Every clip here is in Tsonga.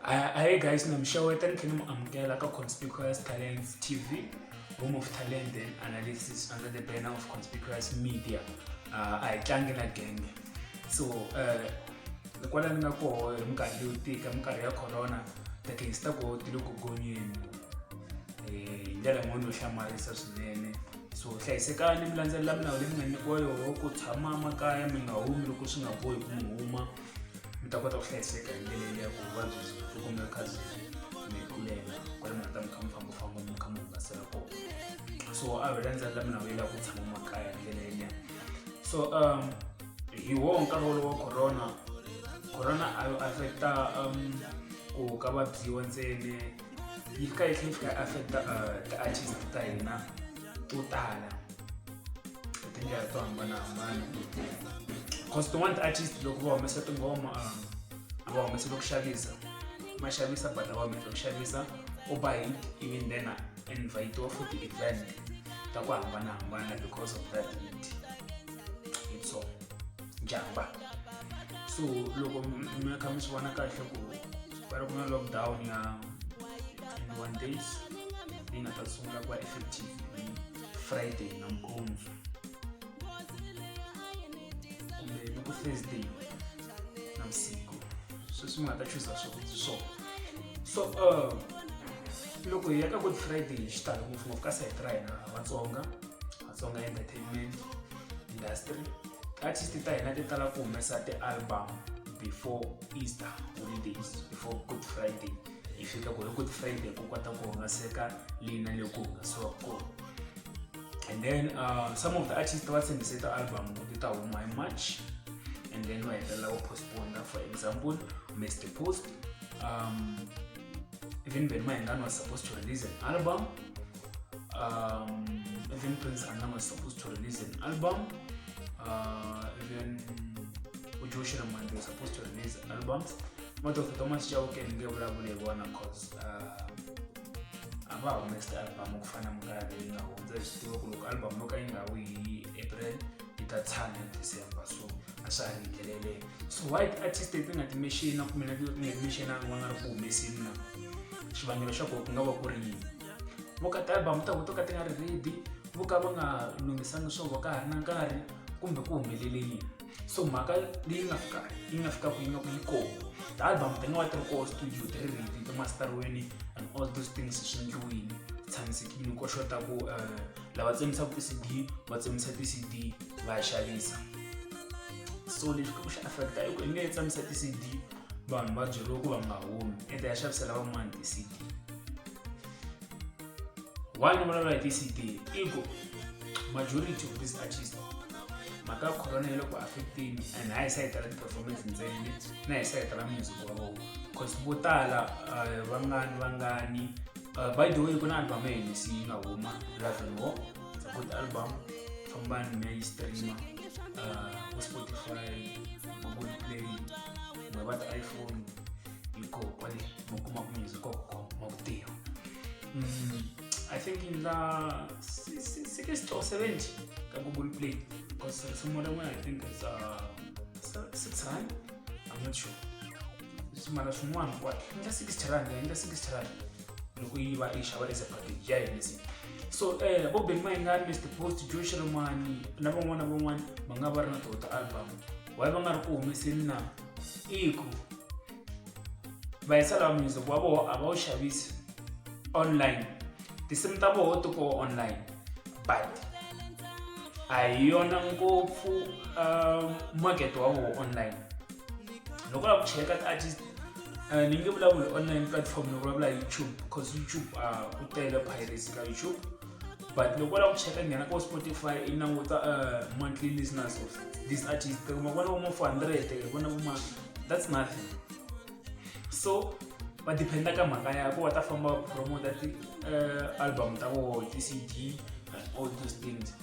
Hi guys na mi xeweta ni tlhela ni mu amukela ka Conspicuous Talents TV home of talent and analysis under the banner of Conspicuous Media uh, a hi tlangi na genge so uh, kwala ni nga koho hi minkarhi leyo tika minkarhi ya corona ti-case ta koho ti le ku gonyeni eh, hi ndlela yin'wana yo hlamarisa swinene so hlayisekani mi landzelela milawu leyi mi nga nyikiwa yoho ku tshama makaya mi nga humi loko swi nga bohi ku mi huma mi ta kota ku hlayiseka hi ndlela leyi ya ku vuvabyi byi byi kumeka kha byi mi tlulela kwale mi nga ta mi kha mi fambafamba mi kha mi hungasela kona so a hi landzela la mina vuyela ku tshama makaya hi ndlela yeliya so um hi woho nkarhi wolowo wa corona corona a yi affecta um ku ka vabyiwa ntsene yi fika yi tlhela yi fika yi affecta uh, ti-artist ta hina to tala Ndzi ya to hambanahambana because tin'wana ti-artist loko va humesa tingoma a a va humeseli ku xavisa ma xavisa but a va humeseli ku xavisa u ba hi even then a invite-iwa for ti-event ta ku hambanahambana because of that need hi so jamba so loko m- mi kha mi swi vona kahle ku va ri ku na lockdown ya 21 days leyi nga ta sungula ku va effective friday nampundzu kumbe loko thursday na vusiku sweswi nga ta chuza swakudya swona so uh, loko hi ya ka good friday hi xitalo ngopfungopfu ka sayiti ra hina vatsonga vatsonga entertainment industry artist ta hina ti tala ku humesa ti-album before easter holidays before good friday hi fika ku ri good friday ku kota ku hungaseka leyi na leyi ku hungasiwa kona and then uh, some of the artists va tshembise ta album ti ta huma hi march and then va hetelela ku postpona for example mr post um, even ben mahengani was supposed to release an album um, even prince anna was supposed to release an album uh, even ujoshi ramandi was supposed to release albums moto of thomas chauke ndinge vulavule hi vona cause uh, a va humesiti album ku fana mukalabe yi nga hundza hi swi tiva ku loko album yo ka yi nga wi hi april yi ta tshama hi december so a swa ha ri ndlelele so why ti-artist leti nga timexina kumbe na ti nga timexinanga va nga ri ku humesini na xivangelo xa koho ku nga va ku ri yini vo ka ti-album ta ku to ka ti nga ri ready vo ka va nga lunghisanga swo vo ka ha ri na nkarhi kumbe ku humelele yini so mhaka leyi nga fika yi nga fika ku yi nga ku yi kona the album then wa tiri koho studio ti ri ready to masteriweni and all those things swi ndliwini tshamisekile ko xota ku eh, lava tsemisaku ti-cd va tsemisa ti-cd va ya xavisa so lexi ku xi affecta i ku i nge tsamisa ti-cd vanhu va byeriwe ku va nga humi ende ya xavisela van'wana ti-cd why ni vulavula hi ti-cd i ku majority of this artist mhaka ya corona yi le ku affecteni and a yi sa yi tala ti-performance ntsena leti na yi sa yi tala music wa vona cause vo tala eh, vangani vangani eh, by the way ku na album ya hina se yi nga huma love and war It's a good album fambani mi ya yi streama eh, ku spotify google play kumbe va ti-iphone yuko kwali mukuma kunyuliza kwa kwa mabuteo mm, i think in la si- si- si ke store 70 ka google play because uh, some other one i think is uh, se- 6 rand i'm not sure simara swin'wana kwati inga 60 rand inga 60 rand loko yi va yi xava as a package ya yinisi so um vo beng mayingani mr post joe xiromani na van'wana na van'wana va nga va ri na tota album waye va nga ri ku humeseni na i ku va yisa laha mundzuku wa vona a va wu xavisi online tinsimu ta voho ti koho online but a hi yona ngopfu um, market wa voho online loko lava ku cheka ti-artist uh, ni nge vulavuli online platform ni vulavula youtube because youtube a uh, ku tele piracy ka youtube but loko u lava ku cheka nghena ko spotify i languta uh, monthly listeners of this artist kuma kona voma 400 kona voma that's nothing so va dependa ka mhaka ya ko va ta famba va promota ti-album uh, ta voho ti-cd and all those things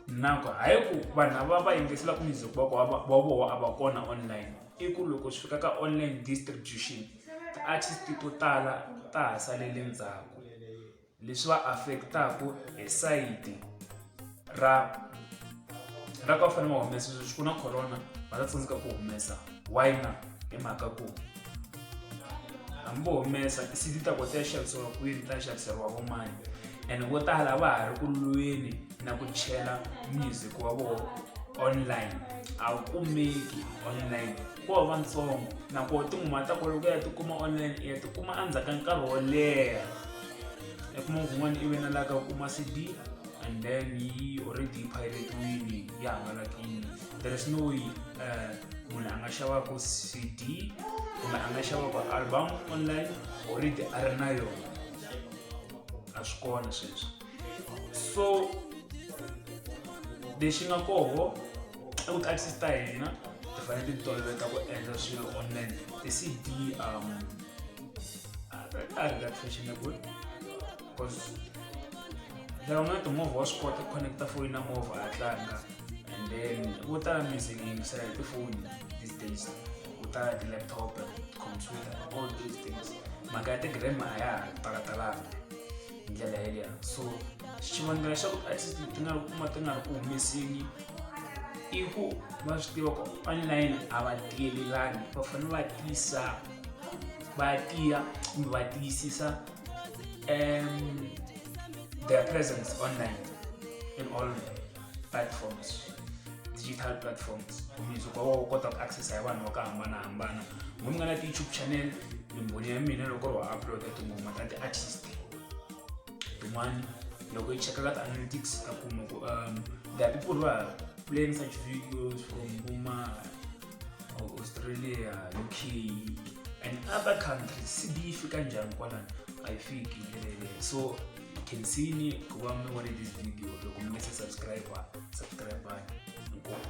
nako hayi ku vanhu lava va yingiselaka music va voho a va kona online i ku loko swi fika ka online distribution ti-artist to tala ta ha salele ndzhaku leswi va affect-aku hi sayiti ra ra ka va fanele va humesa sweswi ku na corona va ta tsandzeka ku humesa why na hi mhaka ku hambi vo humesa ti-cd ta kota ya xavisiwa kwini ta xaviseriwa vomani and vo tala va ha ri ku lweni na ku chela music wa vona online a wu kumeki online ko va ntsongo nakoho tinghuma ta koloku ya tikuma online i ya tikuma endzhaku ka nkarhi wo leha i kuma kun'wana i venelaka u kuma cd and then yi already piratiwini yi hangalakini there is no way um munhu a nga xavaka cd kumbe a nga xavaka album online already a ri na yona a swi kona sweswo so lexi nga koho i ku taxes ta hina ti fanele ti toloveta ku endla swilo online ti cd um a ri ka fashionable because lava nga na timovha wa swi kota ku connecta foni na movha a tlanga and then vo tala music yi yingisela hi tifoni these days vo tala ti-laptop computer all those things mhaka ya ti-grandma a ya ha talatalanga hi ndlela yeleyo so xivangelo xa ku artist ti nga ri kuma ti nga ri ku humeseni i ku va swi tiva ku online a va tiyelelani va fanele va tiyisa va tiya kumbe va tiyisisa um their presence online in all platforms digital platforms mundzuku va wa kota ku accessa hi vanhu va ku hambanahambana n'wi mi nga na ti-youtube channel mimboni ya mina loko ri wa uploada tingoma ta ti-artist tin'wana loko yi cheka ka ti-analytics ta kuma ku um there are people who are playing such videos from kuma australia uk and other countries cd yi fika njhani kwalani a yi fiki so you can see ni ku va mi vone this video loko mi nga se subscribe subscribe inkomu